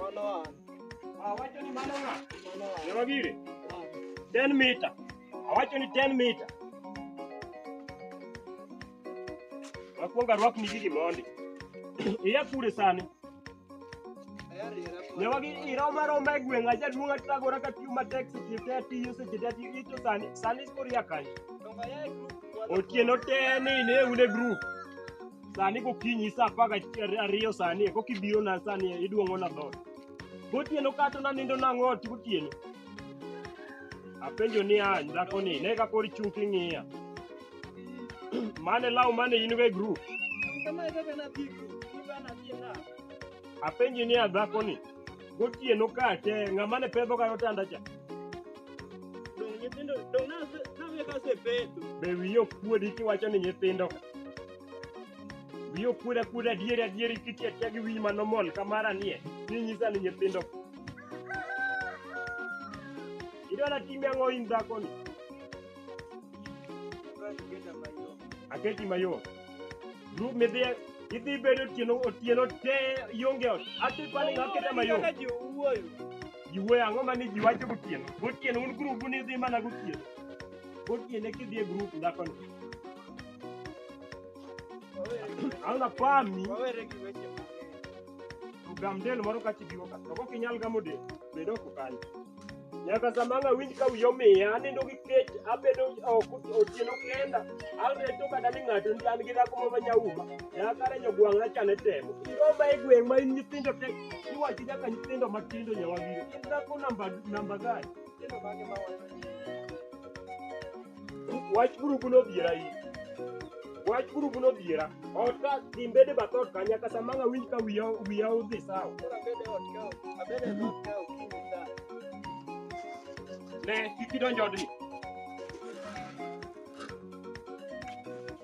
Mano an. Awacho ni mano ng'a? Mano an. Nyama gire? An. 10 mita. Awacho ni 10 mita. Wakwongo arwakni gigi mondi. Iya kure sani. Ayariera kwa. Ne wagi ira omar ombe gweng' aja duong' atagora ka tiyo matek seche te atiyo seche te atiyo ito sani sani koro iya kanye. Tonga ya group. Otieno te ni ne un e group. sani gokinyi sa apar gariyo sani e koka ibiro na sani e, iduong'o na dhot gotieno kato nanindo nang'o ot gotieno apenjo ni a dhako ni ne ka kor chung' king'iya mane law mane in go e group apenji ni a dhako ni gotieno kate ng'ama ne pedho ga otanda cha Dong nyithindo dong na na we ka sepeto. Be wiyo kuodi kiwacho ni nyithindo ka. Wiyo kuoda kuoda adieri adieri kitiya tiya gi wiyi mano mol kamara nie. Ni nyisa ni nyithindo ka. Idwara timi ang'o in dhako ni? Aketi mayot. Ru midhiye idhi bedo otieno otieno te ionge ot. Ati pale ng'aketa mayot. Kaka ji owuoyo. ji wuoyo ang'o ma ni ji wacho gotieno gotieno un grupu ni dhi mana gotieno gotieno eki dhi e grupu dhakoni ang'na pami Wawere gi weche mang'eny. gam del moro ka chibiwo ka to kok inyal gamo del bed oko kanyo nyaka sama ang' awinj ka wiya omiya anindo gi kech abedo oko otieno kenda ang'e to kata ni ng'ato ni an gi dhako moro ma nyauma Nyakare jogwang' na chane temo. Igomba e gweng' ma in nyithindo te. Iwachi nyaka nyithindo matindo nyawagire. In dhako namba namba gani? Nyithindo mage ma wacho? Wach gurubu nodhiera in. Wach gurubu nodhiera. Ot ka timbede bath ot ka nyaka sama ng'a winj ka wiya wiya odhi sawa. Ne, kik idonj odni.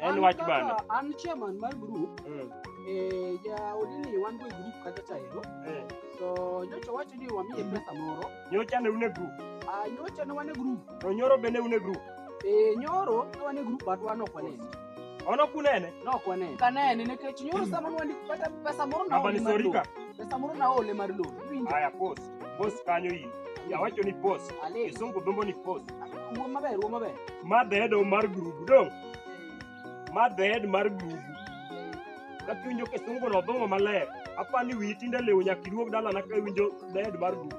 En wach bando. Kaka An chairman mar group, Mm. eh, jaodi ni wan go e group kata chaero. Eh. To nyocha wacho ni wamiye pesa moro. Nyocha ne une group. Ah, nyocha ne wan e group. To nyoro bende une group. Eh, nyoro ne wan e group but wan ok wanene. Ono kunene. Ne ok wanene. Kanene nikech nyoro sama ne wan kata pesa moro na Hapa ni sorika. Pesa moro na ole mar loan. Iwinjo? Haya pos. Boss kanyo in. Yawacho ni boss. Ale. Kisungu dhumbo ni boss. Wuo maber, wuo maber. Ma the head of mar group dong. Ma the head mar group. Kakiwinjo kisungu no dhumbo maler. Apa ni wiyi tinde lewo nyaka iduog dalana ka iwinjo the head mar group.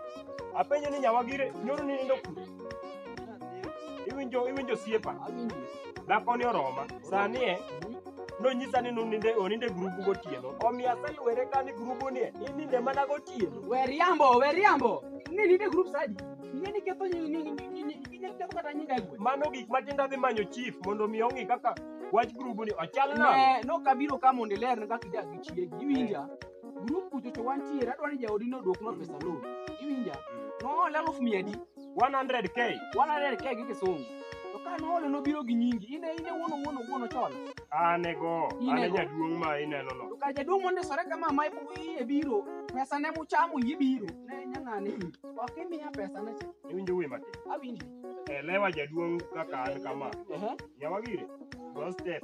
Apenjo ni nyawagire nyoro ni nindo kure. Iwinjo iwinjo siepa. Awinji. Dhako ni oroma. Sani e nonyisa ni noninde oninde grubu gotieno omiyo aselwere ka ni grubu nie ininde mana gotieno we riambo we riambo ne ninde grup sadi ing'e ni ketho nyi- nyi- nyi- nyi- nyi- inyalo ketho kata nyinga e gweng' mano gik matindo adhi manyo chief mondo mi ong'i kaka wach grubu ni ochal nang'o Ne, no kabiro ka mondo ilerne kaka idak gi chiegi iwinja grup kuchocho wantiere adwaro ni jaodi nodwoknwa pesa loan iwinja noole aluf mia adi 100k. 100k gi kisungu. To ka noole nobiro gi nyingi. Ine ine wuono wuono wuono chon. Anego, Inego. ane jaduong' ma ineno no. To ka jaduong' mondisore kama ma ipo iye biro. Pesa ne muchamo yie biro. Ne nyang'ane in. Ok imiya pesa ne cha. Iwinjo wuoyi matin. Awinji. Elewa jaduong' kaka an kama. Ehe. Nyawagire, go step.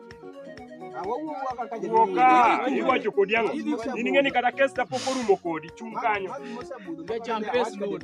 Woka, iwacho kodi ang'o? In ing'e ni kata kes kapok orumo kodi, chung' kanyo. Jacham pes load.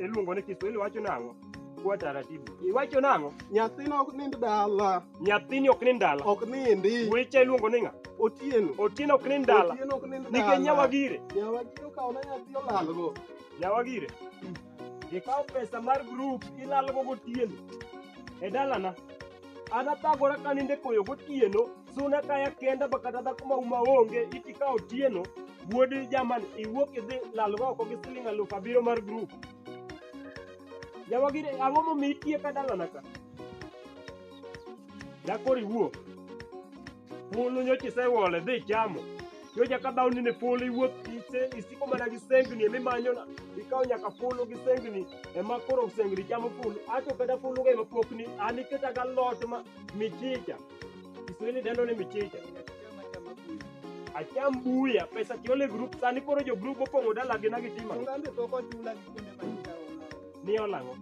iluongo ni Kiswahili wacho nang'o? Kwa taratibu. Iwacho nang'o? Nyathina ok nind dala. Nyathini ok nind dala. Ok nindi. Wecha iluongo ni ng'a? Otieno. Otieno ok nind dala. Otieno ok nind dala. Nikech nyawagire. Nyawagire okawo na nyathi olalgo. Nyawagire. Ikawo pesa mar group ilalgo gotieno. E dalana. An athagora ka ninde koyo gotieno. Suna kaya kenda ba kata dhako ma uma onge iti ka otieno wuod jaman iwuok idhi lalgo oko gi siling aluf abiriyo mar grup jawagire ang'o momi itie ka dalana ka dakoro iwuok polo nyocha isewole dhi chamo nyocha ka dhawni ne polo iwuok ise- isiko mana gi sengni emi manyona ikawo nyaka polo gi sengni ema koro sengni chamo polo ato kata pologa ema pokni an iketa galot ma michicha Kiswahili dendo ni michicha. Acham buya, pesa tiole group, sani koro jo group opong'o dala gi nagi tima. Ongambe pok ochula gi kuonde ma nikaona. Ni olang'o.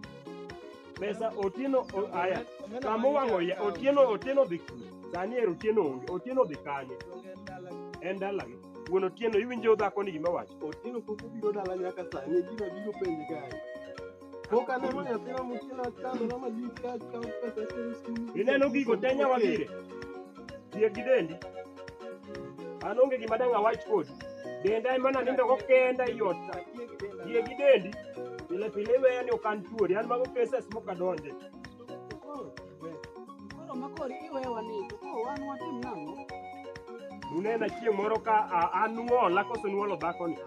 Pesa otieno o- aya. Omena Kama ma owang'o ya, nikawo. otieno otieno dhi. Sani ero otieno onge, otieno dhi kanye? Onge en dala gi. En dala gi. Wuon otieno iwinjo dhako ni gima wacho. Otieno pok obiro dala nyaka sani, gino biro penje kae. Boka ne manya tena mukina chando na majika cha pesa tena skulu. Ineno gigo te nyawa gire. Tie gi dendi. An onge gima dang' awach kodi. Denda ema nanindo go kenda ei ot ka. Tie gi dendi. Pile pile iweya ni ok an tuori. An mago cases mok adonje. Koro makori iwewa ni to koro wan watim nang'o? Unena chieng' moro ka a- an nuola koso nuolo dhakoni.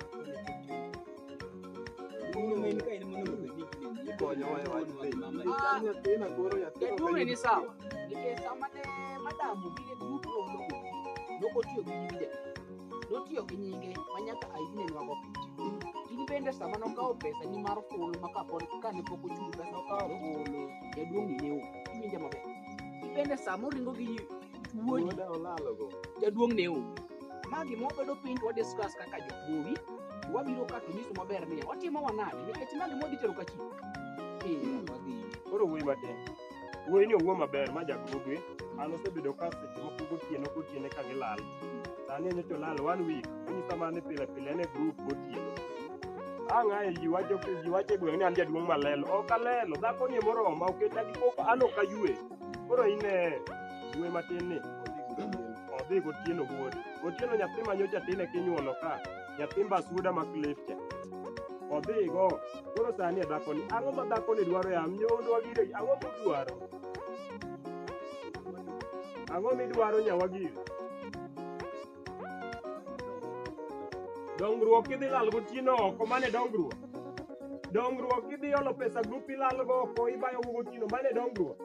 Jaduong' ni sawa nikech sama ne madam obiro e grup nono nokotiyo gi nyinge notiyo gi nyinge ma nyaka aine nwago picha in bende sama nokawo pesa ni mar fulu ma kapod kane pok ochung pesa okawo fulu jaduong' ni ne o iwinja maber in bende sama oringo gi wuodi jaduong' ne o Ma gima wabedo piny to wadiscuss kaka jokuowi, wabiro ka to nyiso maber ni watimo wanade nikech ma gima wadhi tero ka chi. Eh, wadhi. Koro wuoyi matin. Wuoyi ni owuo maber ma jagrube. An osebedo ka seche moko gotieno gotiene ka gilal. Sani en to lal one week. Onyisa mana ni pile pile en e group gotieno. Ang' ae ji wacho ji wacho e gweng' ni an jaduong' malelo. Ok alelo. Dhako ni moroma oketa gi koko an ok ayue. Koro ine dwe matin ni odhi gotieno wuode. Gotieno nyathi ma nyocha tin e kinyuolo ka, nyathi mbasuda ma Cliff cha. Odhigo, koro sani e dhakoni. Ang'o ma dhakoni dwaro e am? Nyondo wagire, ang'o midwaro? Ang'o midwaro nyawagire? dongruok idhi lal gotieno oko mane dongruok dongruok idhi olo pesa grup ilalgo oko ibayo go gotieno mane dongruok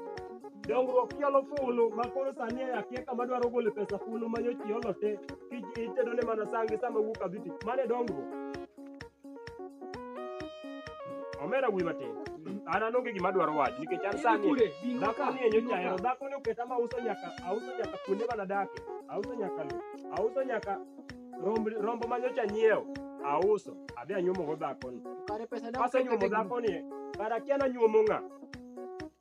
dongruok iolo fulu ma koro sani akia kama dwaro gole pesa fulu manyochi iolo te kich itedone mana sangi sama wuok adhi tich mane dongruok Omera wuoyi matin. An an onge gima adwaro wacho nikech an sani Kure, bingo ka, dhakoni e bingo nyocha ka. hero dhakoni oketa ma uso nyaka auso nyaka kuonde mana dake auso nyaka lo auso nyaka romb rombo ma nyocha nyiewo auso adhi anyuomogo dhakoni Kare pesa dang' kasenyuomo kete gi- dhakoni kara kia nanyuomo ng'a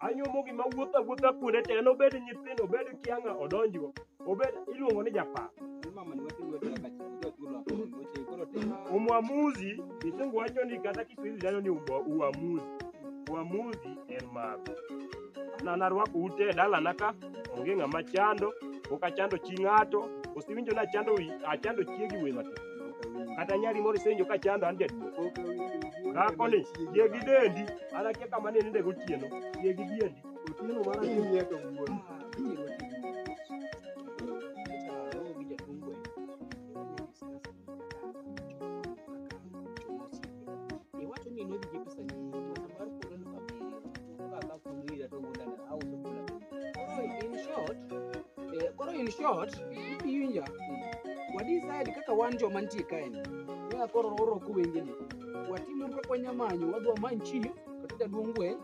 anyuomo gima wuotho awuotha kuonde te en obed nyithindo obed kiang'a odonjgo Obed iluongo ni japar. Umwamuzi kisungu wacho ni kata kiswahili dano ni umwa- uamuzi. Uamuzi en maru. Na narwako ute e dalana ka onge ng'ama chando, ok achando chi ng'ato, osewinjo nachando wi- achando chiegi we matin. Kata nyari moro isewinjo ka chando an jaduong'. Dhakoni, chiegi dendi, an akia kama ne ninde gotieno, chiegi diendi. Otieno mara ni nie to wuon. Koro in short, iwinja. Wadecide kaka wan joma nitie kaeni. Kaka koro oro kuwengeni. Watimo kaka wanyamanyo, wadwa many chief, kata jaduong' gweng',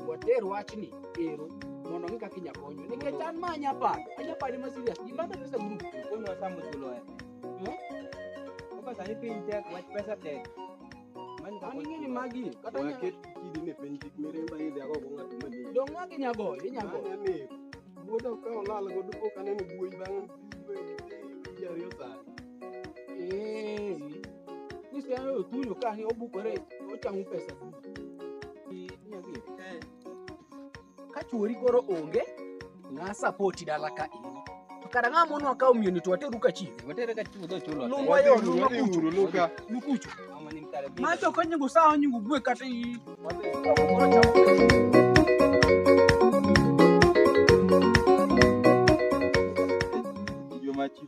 water wachni ero mondo ong'e kaka inya konyo nikech an ma anya paro anya paro ma serious gima be pesa group Konu wasamu chulo e. Hmm? Kaka sani piny tek, wach pesa tek. Mani kaka an ing'eni magi kata nya Waket kidi ne piny kik miremba idhi ago go ng'ato mani. dong magi nya goyo inya goyo Mane mi wuoda ka olal go duko kaneno buoyi bang' ji ariyo sani. Eh, Kristo yangu otuyo ka ni obukore ochangu pesa. Ni- ni adhi. Ka chuori koro onge, ng'a sapoti dala ka in. To kada ng'a mono akawo miyoni to wateru ka chi. Watere ka chiwo chulo. Lumu ayo, lumu Wadhi akuchu. uru, Luka. Lukuchu. Mama ni mkare. Macho kanyingu sawa nyingu gwe kata i. Joma chi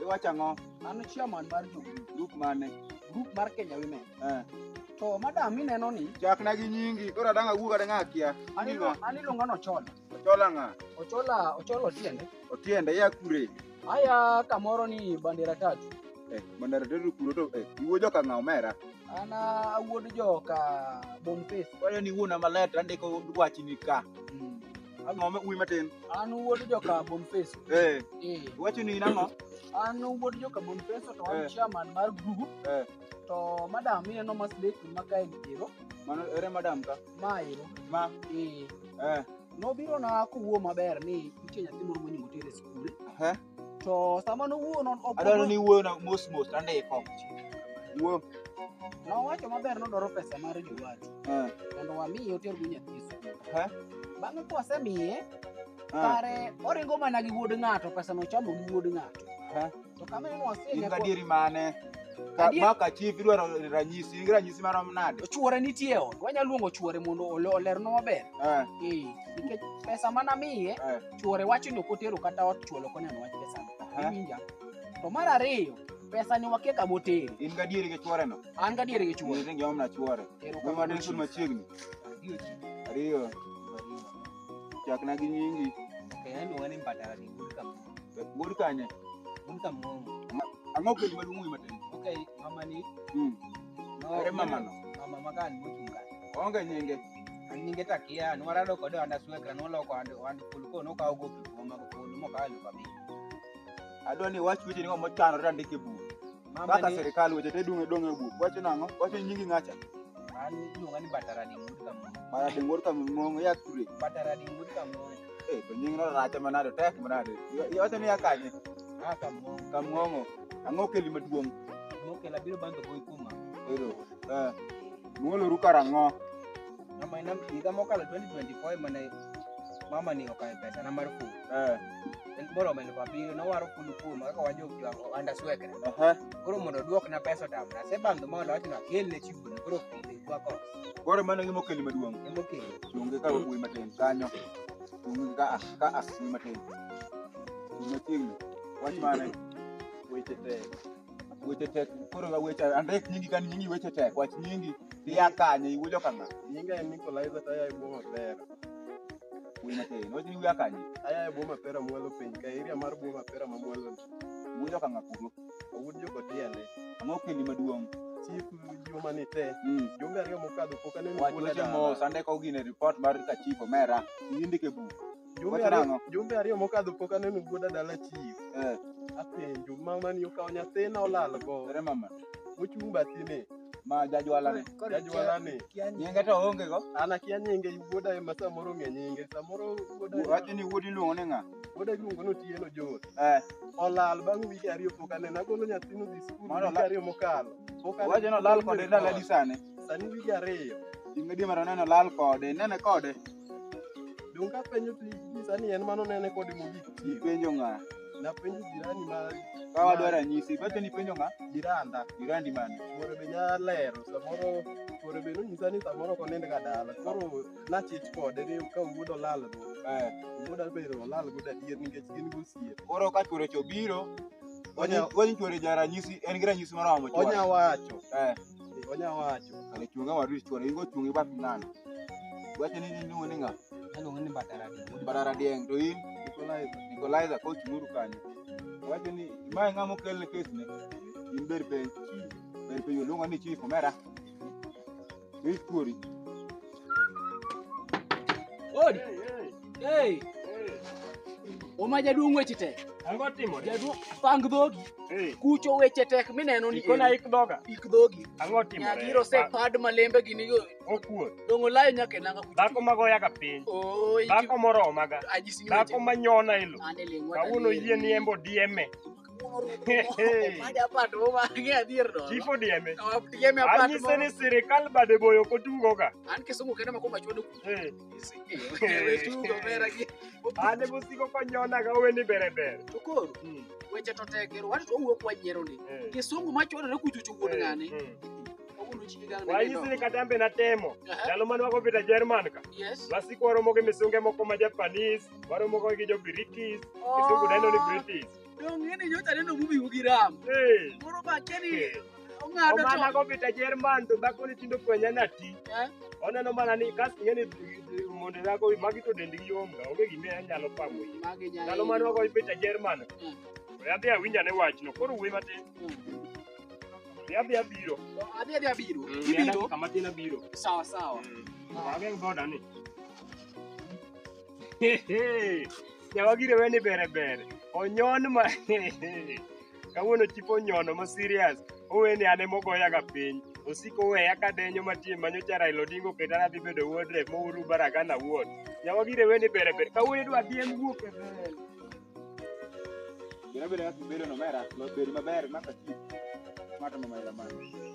Iwacho ang'o? An chairman mar jo group. Group mane? Group mar Kenya Women. Eh. To madam ineno ni chakna gi nyingi koro adang' awuog adang' akia. An ilo- an iluonga ni Ochola. Ochola ng'a? Ochola Ochola Otiende. Otiende ya kure? Aya kamoro ni bandera tatu. Eh, bandera tatu kuro to eh, iwuo joka ng'a omera? An ah, awuod joka Boniface. Kwayo ni wuona maler to andiko wachni ka. Ang'o ma uwi matin? An wuod joka Bonface. Eh. Eh. Wacho ni in ang'o? An wuod joka Bonface to an Eh. chairman mar group. Eh. To madam ineno mas lek ma kae nitero. Mano ere madam ka? Ma ero. Ma. Eh. Eh. Nobiro na kowuo maber ni nitie nyathi moro monyuol tere e skul. Eh. to sama nowuoyo non ok adwaro ni wuoyo na mos mos tandiko wuoyo nowacho maber nodwaro pesa mar jowadu eh, mondo wamiye otergo nyathi skul eh, bang'e kwasemiye eh, kare oringo mana gi wuod ng'ato pesa nochamo gi wuod ng'ato eh. to kama en wasie in gadieri mane Ka- Adier- maka chief idwaro ranyisi in gi ranyisi marom nade chuore nitie e ot wanyalo luongo chuore mondo ole- olernwa maber Eh, Eh, nikech pesa manamiye eh. chuore wacho ni ok otero kata ot chuolo ok oneno wach pesa Aha. iwinja to mar ariyo pesa ni wakia kama otere In gadieri gi chuore no. an gadier gi chuore Chuore ngi omna chuore. Ero Kuma kamano den sun chief. machiegni. Adiyo chief. Ariyo. Chakna gi nyingi. Kaya ni wani mbatara ni good kama. Gol kanye. Good kama. Ang'o kodi maduong' matin. Okay, mama ni. Mm. No, Ere mama no. Mama makan mochunga. Onge nyinge. an nyinge to akia nwarado kode ohand aswekra noloko ohand ohand fulu koro nokawo gopi kuom mag fulu mokawo elufu abich adwa ni wach weche nigo mochanore andik e buk Mama kaka ni- sirikal weche te dong' dong' e buk wacho nang'o wacho nyingi ng'acha an iluonga ni bataradi mud kamoro mara dengor ka mong'o ya kure bataradi mud kamoro eh to nying no racha manade tek manade iwacho ni ya kanye ah kamoro ka mong'o ang'o keli maduong' mokela biro banjo gowi kuma ero Eh, muoloru karang'o? Mama ina higa mokalo 2024 ema ne mama ni okayo pesa na mar ful. Eh, En bora omedo papiro nowaro ful kuom kaka wajo jo anda swekre. aha. Koro mondo duok na pesa tam na se bang mondo wach na kel ne chiwo ni koro kundi kwa ko. Koro mano ng'imo keli maduong'. Emo ke. Chungi ka wuoyi matin kanyo. Chungi ka ah, ka ah, wuoyi matin. Chungi machiegni. Wach mane? Weche tek. weche tek koro ga weche andik nyingi kan nyingi weche tek wach nyingi iya kanye iwuojo kama nyinga en Nicolaiza to aya e boma pera wuoyo matin wach nyingi iya kanye aya e boma pera mwalo piny ka area mar boma pera ma mwalo iwuojo kama kuro awuod jo kotiende ang'o kendi maduong' chief juma ni te mm. jumbe ariyo mokadho pok aneno wach weche mos andiko gine report mar kachief omera indike buk Jumbe Wachna ariyo, ang'o? jumbe ariyo mokadho pok aneno wuoda dala chief. Eh, Apenjo mama ni okawo nyathina olal go. ere mama. Mochung' bathini. Ma jajwala ne. Jajwala ni. Nyinge to onge go. An akia nyinge wuoda ema samoro ng'e nyinge. Samoro wuoda Wacho ni wuodi luongo ni ng'a? wuoda iluongo ni Otieno John. Eh, Olal bang' wige ariyo pok aneno. Agolo nyathino dhi skul Mano wige olal. ariyo mokalo. Pok aneno. wacho ni olal kode ndalo adi sani? Sani wige ariyo. Ing'e di mara neno olal kode. Nene kode. Donge apenjo to inyisa ni en mano nene kode mogik chieng'. Ipenjo ng'a? Napenjo jirani ma Ka wadwa ranyisi, iwacho ni ipenjo ng'a? jiranda. Jirandi mane? Chuore be nya lero samoro chuore be nonyisa ni samoro ok onindga dala. Koro nachich kode ni ka wuod olal go. Eh, Wuod Abel olal go adier nikech gin gosiepe. Koro ka chuore cha obiro, Onya- wanyisore ja ranyisi, en gi ranyisi moro ma onya chuore. wacho. Eh. Onya wacho. Kare chunga waru chwore ingo chungi bat nani. Wacho ni iluongo ni ng'a? Aluongo ni Badara Dieng. Badara Dieng to in Nikolaiza. Nikolaiza ko chunguru kanyo. Wacho ni ma ng'a mokel ne kes ne. In ber piny. Ber piny oluongo ni chief omera. Chief kuori. Odi. Hey. Oma jaduong' weche tek. Ango timo de. Jaduong' pang dhogi. Eh. Kucho weche tek mineno ni. Ikona ik dhoga. Ik dhogi. Ango timo de. Nyagiro se pad malembe gini go. Okuo. Dongo layo nyaka nanga kucho. Dhako mago yaga piny. Oh. Dhako moro omaga. Dhako manyona ilo. Kawuono yie ni embo dieme. Chief odieme. Anyise ni sirikal bade boyo ok otugoga. An Kisumu kende makwongo achwado ku. Eh. Wewe tugo mera gi. Ane mosiko konyonaga owe ni bere bere. To koro hmm. weche to tek ero watu to wuok wanyiero ni. Eh. Kisungu machwadore kuchuchu wuon eh, ng'ane. Hmm. wayisini katambe natemo ndalo mane wako vita jerman ka wasiko waromo gi misunge moko ma japanis Waromo go gi jo British. Kisungu dendo ni British. Donge ni nyocha neno mumi ugi ram. Eh. Moro ba keni Eh. ong'ado Omana to. go vita Jerman to dhako ni tindo kwenya na ti. Eh? Oneno mana ni kas ng'eni monde dhako magi to dendgi yom ga onge gime anyalo pamo yi. Magi nyalo. Ndalo mane wagoyo vita Jerman. Mm. We adhi awinja ne wachno. Koro wuoyi matin. We adhi abiro. Adhi adhi abiro. Mm, Ibiro. Kama tin abiro. Sawa sawa. Wageng boda ni. Jawagire weni bere bere. Onyon ma kawuono chipo onyono ma serious. Oweni ane mogoya ga piny. Osiko weya ka denyo matie manyo cha Raila Odinga oketa nadhi bedo wuod rep mouru baragana wuod. Jawagire weni bere bere. Kawuono idwa dhi en wuok e bel. Bere bere kaka ibedo no mera. Beri maber maka chip. Mato mama ila mani.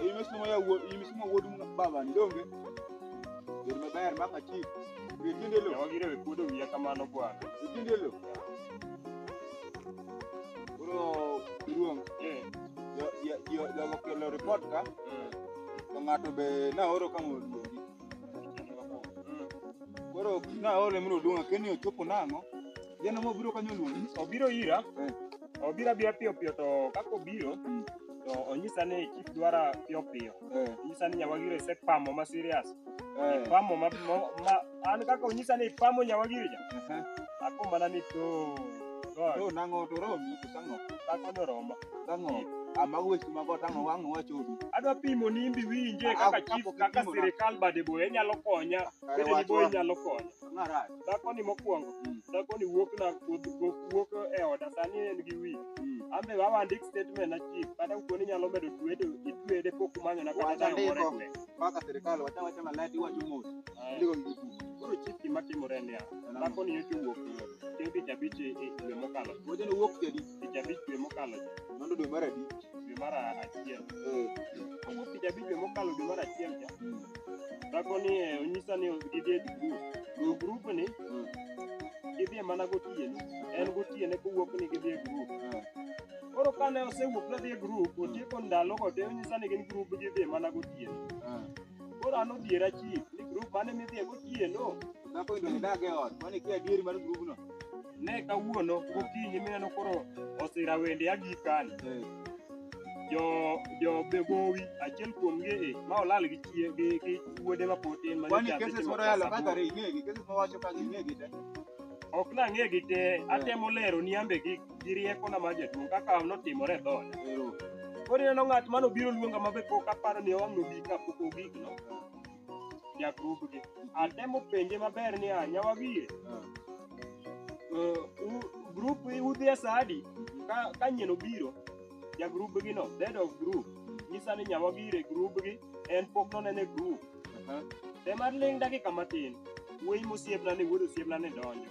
Imesoma ya wuod imesoma wuod baba ni donge. Wer maber mama chief. Witinde lo. Yawa gire wekuodo wiya kamano bwana. Witinde lo. Bro, duong. Eh. Yo yo yo yo kelo report ka. Mm. To ng'ato be na oro kama oluongi. Koro na oro mro duong' keni ochopo nang'o? Jana mo biro kanyo luongi. Obiro ira. Eh. obira bia piyo piyo to kaka obiro to onyisa ni chief dwara piyo piyo Eh, onyisa ni nyawagire se pamo ma serious eh, pamo ma, ma, ma an kaka onyisa ni pamo nyawagire ja aha. ako mana ni to god To nang'o to romi to tang'o dhako no romo tang'o ama weche mago tang'o wang'o wachodu adwa pimo ni imbi winje Ah, kaka chief kapok kaka ipimo na. sirikal bade boye nyalo konya Kare bende ni wach boye wa. nyalo konya Ng'ara. dhakoni mokwongo dhakoni wuok na wuok wuok e oda sani en gi wi an be wawa ndik statement na chief kata kuoni nyalo medo twedo itwede pok manyo na kata Wacha dayo moro ndiko. kwe Mpaka serikali wacha wacha malet iwacho mos. Ndiko ndiko. koro chief gima timore niya dhakoni nyocha owuok chieng' tich abich e e dwe mokalo Wacha ni wuok kedi. tich abich dwe mokalo Mano dwe mar adi? dwe mar achiel kawuok tich abich dwe mokalo dwe mar achiel cha dhako ni eh, onyisa ni gidhi e grup to grup ni gidhie mana gotieno en gotiene kowuok ni gidhi e grup koro kane osewuok nadhi e grup otieko ndalogo te onyisa ni gin grup gidhie mana gotieno Koro an odhiera chief ni grup mane midhiye gotieno. Dhako idong' idag e ot, kwani kia adieri mar grubno. Ne kawuono gokinyi mineno koro osira wende agik kani. Eh, Jo jo begowi achiel kuom gi e ma olal gi chie gi gi wuode ma pod tin ma Kwani nyachande cases timo moro yalo klas kaka aboro. re ing'egi, cases mawacho kaka ing'egi te. Ok nang'egi te, atemo lero ni ambe gi gi riekona mar jaduong' kaka notimore e dhooda. Koro ineno ng'at mane obiro luonga ma be pok aparo ni owang' nobi ka pok ogik no, jagrubgi. Atemo penje maber ni a nyawagie, eh, u- grup udhi e sa adi ka ka nyien obiro jagrubgi no, dead of group. Nyisa ni nyawagie e grubgi, en pok nonene grup. Te mar ling' dakika matin, wuoyi mosiepna ni wuod osiepna ni donjo.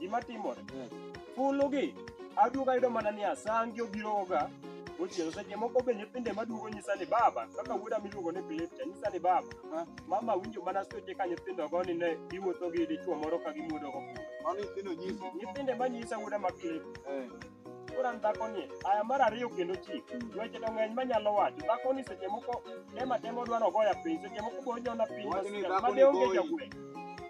Gima timore. Fulu gi aduogo ayudo mana ni asangi obiro ga ochielo seche moko be nyithinde maduogo nyisa ni baba kaka wuoda miluongo ni Philip cha nyisa ni baba Ah. mama winjo mana seche ka nyithindo go ni ne giwuotho gi dichuo moro ka gimuodo go Mano nyithindo nyisi. nyithinde manyisa wuoda ma Philip Eh. Koro an dhakoni, aya mar ariyo kendo chik. Weche to ng'eny manyalo wacho. Dhakoni seche moko dem atema odwa nogoya piny, seche moko be onyona piny Wach ni masira, dhakoni made onge goyi. jagweng'.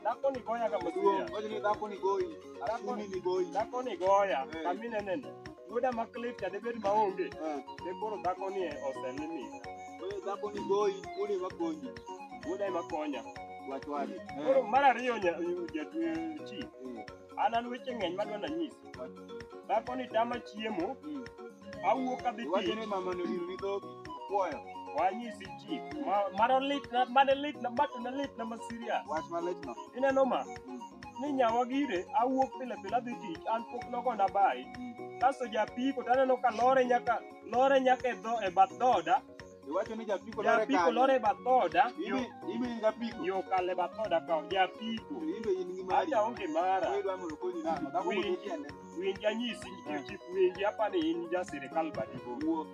Dhakoni goyaga masira. Maduong', wacho ni dhako ni goyi, asumi ni goyi. Dhako ni goya, Eh. kami neneno. Yuda ma clip cha debed ma onge. Eh, Ne koro dhako ni oselimit. wewe dhako ni goyi, uli makonji. Yuda ema konya. Wach wadi. Koro mar ariyo nya- jatwe chi. Eh, An an weche ng'eny ma dwanda nyisi. Dhako ni tama chiemo, awuok adhi Iwacho tich. ni mama ni odiro ni dhogi. Puoyo. Wanyisi chief. Ma- Mano lit na, mano lit na, bato na lit na ma serious. Wach malit no. Ineno ma? Ni nyawa gire, awuok pile pile adhi tich, an pok nogona bayi. Kasto japiko to aneno ka lore nyaka, lore nyaka e dho, e bath dhoda, Iwacho ni japiko lore Japiko kanye? lore bathoda yo Ibi- ibi in japiko. yo kale bathoda ka japiko. Ibe in gi mari. Aja onge mara. Wewe dwamo lokoni nano. Dhako Winji. moko tiende. Winji anyisi nikech chik winji apani in ja sirikal badigo. Wuo.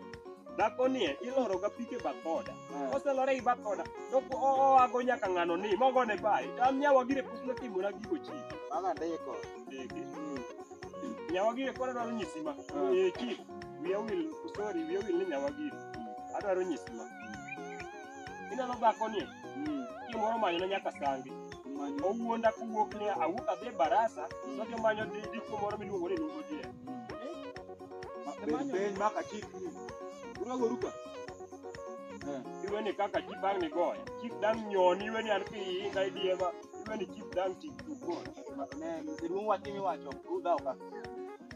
Dhako nie iloro ga pike bathoda. Eh. Koselore gi bathoda to ko- o- oago nyaka ng'ano ni mogone bai. An nyawa gire pok notimona gigo chi. Baga ndiko. Ndege. Mm. Nyawa gire koro dwaro nyisi ma. Eh. Eh, chik. wiya wil sorry wiya wil ni nyawa giri adwaro nyisi ma ineno dhako ni kimoro manyona nyaka sangi owuonda kowuok ni awuok adhi e barasa sojo manyo di- diko moro miluongo ni nungo jie Peny maka chik ni. Urago ruka. Eh. iwe ni kaka chip ang ni goya chip dang nyoni iwe ni an ki iinga idiema iwe ni chip dang tik tukon Ne, jaduong' wach imiwacho, udhaw ka.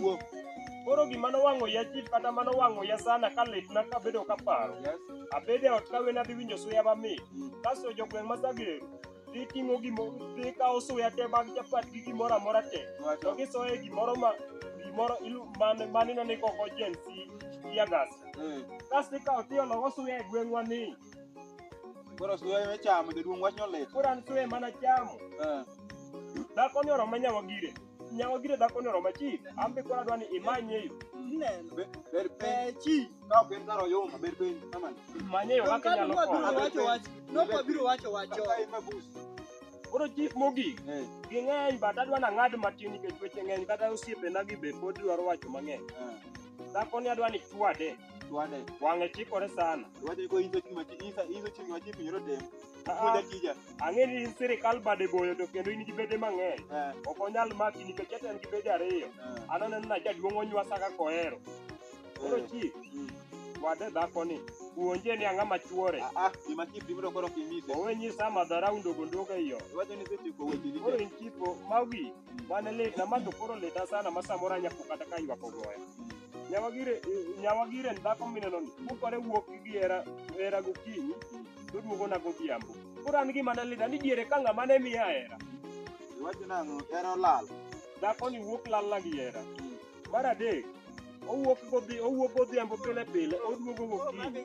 Wuok. Koro gima nowang'o ya chief kata mano wang'o ya sana ka litna kabedo kaparo. Yes. Abede ot ka wena dhi winjo suya mamit. Kasto jogweng' ma Sageru dhi ting'o gimo dhi kawo suya te mag chapat gi gimoro amora te. To Wacho. gisoye gimoro ma gimoro ilu man manino ni koko Gen Z tear gas. Eh. Kasto ikawo tiologo suya e gweng'wa ni. Koro suya me chamo jaduong' wach ni olit. Koro an suya mana chamo. Eh. Dhako ni oroma nyawa gire. Nyawa gire dhako ni oroma chief. An be koro adwa ni imanye yo. Ineno. Be- Ber Eh, piny. chief. Ka ok en kar oyuma, ber piny. Aman. Manye yo kaka Kano inyalo kwa biro konyo. wacho wach. No kwa biro wacho wach. Kaka en mabus. Koro chief mogik. Eh, Ging'eny but adwa ni ang'ad matin nikech weche ng'eny kata osiepena gi be pod dwaro wacho mang'eny. eh. Dhako ni adwa ni chwade. Twade. Wang'e chikore sana. Twade ko inso chuma chi isa inso chuma chi pinyoro dem. Kuda kija. Ang'e ni in sirikal bade boyo to kendo in gi bede mang'eny. Eh. Ok onyal maki nikech ete en gi bede ariyo. Eh. An aneno na jaduong' onywasa kaka ohero. Koro eh. chi. Mm. Wade dhako ni. Puonje ni ang'a machuore. Ah, ah, gima chief dibro koro kimise. Owe nyisa madhara undogo ndogo iyo. Wacho ni sechiko weche ni. Koro in chipo mawi. Mm. Mane lit na mato koro lita sana masamora nyako kata ka ywako goya. Mm. Nyawagire nyawagire en dhako mineno ni mukore wuok gi hera hera gokinyi to duogona godhiambo. Koro an gima ne lida ni diere ka ng'ama ne miya hera. Iwacho nang'o? Hera olal. Dhako ni wuok lalna gi hera. Mar adek, owuok godhi owuok godhiambo pile pile oduogo gokinyi.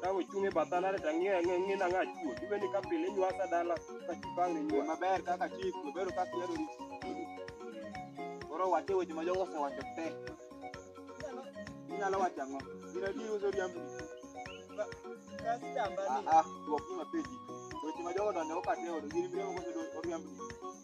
Ka ochung' e bath alare to ang'iyo ang'iyo ang'iyo nang'a achuo. Ibe ni ka pile inywasa dala ka chipang' Yo inywa. maber kaka chik, maber kaka ihero rito. Koro wache weche ma jogo osewacho te. Inyalo wacho ang'o? Gin adier uso riambo. Kastamba ni Ah ah, dwok ni mapenji. Weche ma jogo donjo okate odo, gin miriambo koso do- oriambo.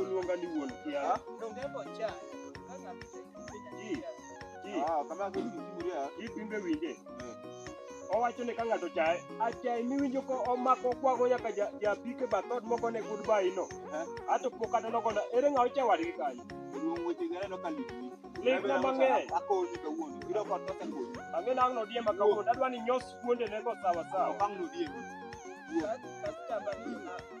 Oluonga ni wuon kiawa. Ji, ji, Ah, kama yake ni mzuri ya. ji pimbe winje. Owacho ni ka ng'ato chaye, achaye miwinjo ko omako kwago nyaka ja- japike bathot moko ne goodbye no. Eh. Ato pok kata nogona, ere ng'a ocha wadgi kanyo? Ruong weche gere no kaliki. Ligna mang'eny. Akoni ka wuon. Iro kwa tosa koni. Ang'e nang' nodiema kawuono, adwa ni nyos kuonde ne go sawa sawa. Okang no die. Wuon.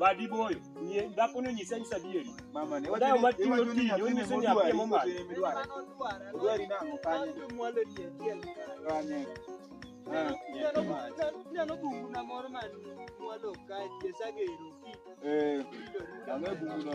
Badi boyo. Nye dhako ni onyisa nyisa adieri. Mama ne Odayo ma tiyo tich, onyiso ni apie mong'ad. Odwari nang'o kanye? Kanye. Ah, Eh, ang'e bunguno.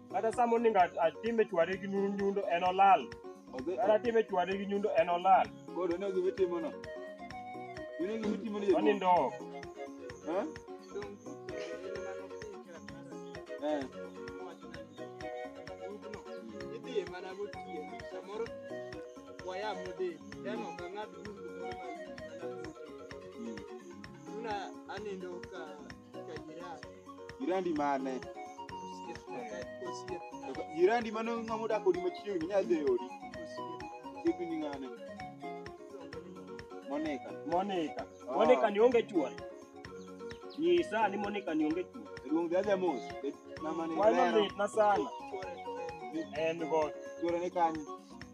Kata sama oningo at- atime chwade gi nu- nyundo en olal. Odhi- Kata atime chwade gi nyundo en olal. Koro ne gima itimono. Mine gima itimono jaduong'. Onindo ok. Eh? Eh. Mm. Una anindo ka Jirandi mane? Jirandi mane ng'ama odak odi machiegni inyalo dhi e odi. Osiepni ni ng'ane? Monica. Monica. Ah. Monica ni onge chuon. Nyisa ni Monica ni onge chuon. Ruong dhi adhi mos. Mama ni Why not lero. it na sana? En go. Chuore ni kanye?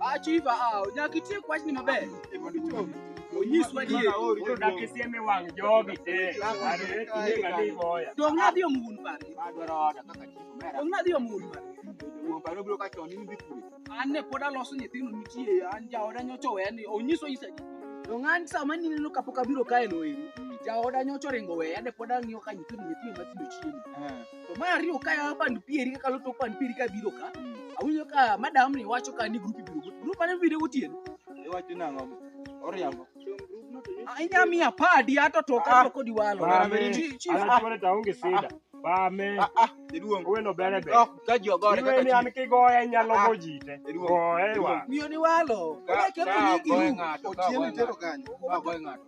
Achiva ah, nyaka itie kwach ni maber. Onyiswa ni Koro dak isiem e wang' jogi te. Are kinde ka ni boya. dong nadhi omun par. Dong nadhi omun par. An ne pod aloso nyithindo nitie an jaoda nyocha oweya ni onyiso isa ni. Dong an sama nineno kapok abiro kae no eri. Jaoda nyocha oringo weya ne pod ang'iyo ka nyithindo nyithindo matindo chiemo. To mar ariyo ka ya band pieri ka kalo tok band pieri ka biro ka. Awinjo ka madam ni wacho ka ni group biro. Group mane biro gotieno. Iwacho nang'o? Oriambo. Ah, Inya miya padi ato to ka Ah. to kodi walo. Ba, Bame. Chi- chi- An achwone to aonge sida. Ba me. Ah ah, jaduong. Owelo bere be. Dok ka ji ogore Iwe ni kaka an chi. kigoya inyalo Ah. go jite. Jaduong'. Goye wa. Miyo ni walo. Ka- Oya kembo ka ni ogoyo giru. ng'ato, ka Otieno ogoyo itero ng'ato. kanye? Ka ogoyo ng'ato.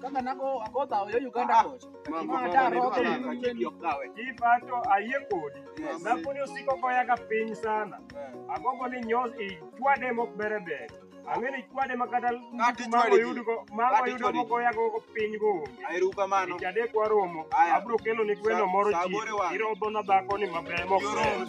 Kaka nago akodhawo yo Uganda kocha. Ma ta roke. Ipato ayie kodi. Dhakoni osiko koyaga piny sana. Agombo ni nyos ichwade mok bere ber. Ang'e ni chwade ma kata Kati mago chwade ji. yudogo mago Kati yudo chwade ji. mokoyago piny go onge. Erukamano. Chadek waromo. Aya. Abro kelo ni gweno moro Sa- sa aboro e ji. wang'e. Irodho na dhakoni maber mok Yoro. ber.